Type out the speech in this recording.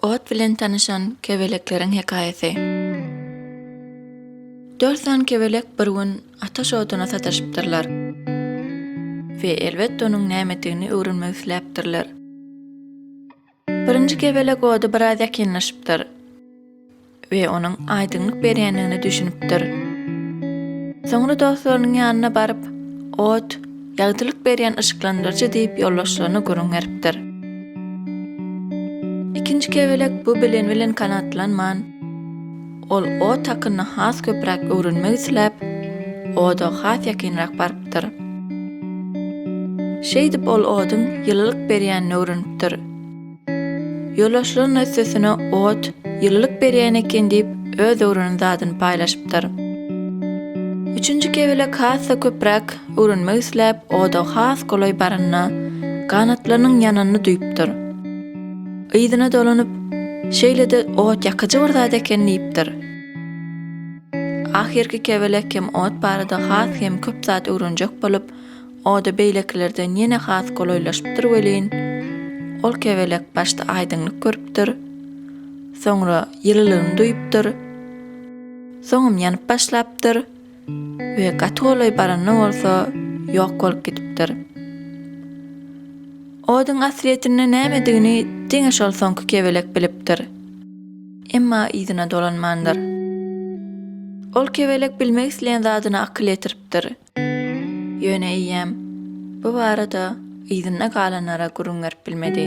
Ot bilen tanyşan kebelekleriň hekaýasy. Dört sany kebelek bir gün ataş oduna sataşypdyrlar we elbetde onuň nämedigini öwrenmek isläpdirler. Birinji kebelek ody biraz ýakynlaşypdyr we onuň aýdyňlyk berýändigine düşünipdir. Soňra dostlarynyň ýanyna baryp, Ot, ýagtylyk berýän yşyklandyryjy diýip ýoldaşlaryna gürrüň beripdir. Ikinji kebelek bu bilen bilen kanatlanman. Ol ot hakynda has köpräk öwrenmek isläp, oda has ýakynrak barypdyr. Şeýdip ol oduň ýylylyk berýänini öwrenipdir. Ýoldaşlaryna üstesine ot ýylylyk berýän eken diýip öz öwrenen zadyny paýlaşypdyr. Üçünji kebelek has-da köpräk öwrenmek isläp oda has golaý baranda ganatlarynyň ýananyny duýupdyr. Yzyna dolanyp, Şeýle-de ot ýakyjy bir zat eken diýipdir. Ahyrky kebelek hem ot barada has hem köp zat öwrenjek bolup, oda beýlekilerden ýene has golaýlaşypdyr welin, ol kebelek başda aýdyňlyk görüpdir, soňra ýylylygyny duýupdyr, soňam ýanyp başlapdyr. we gaty golaý baranda bolsa ýok bolup gidipdir. Oduň aslyýetinde nämedigini diňe şol soňky kebelek bilipdir. Emma yzyna dolanmandyr. Ol kebelek bilmek isleýän zadyna akyl ýetiripdir. Ýöne eýýäm bu barada yzynda galanlara gürrüň berip bilmedi.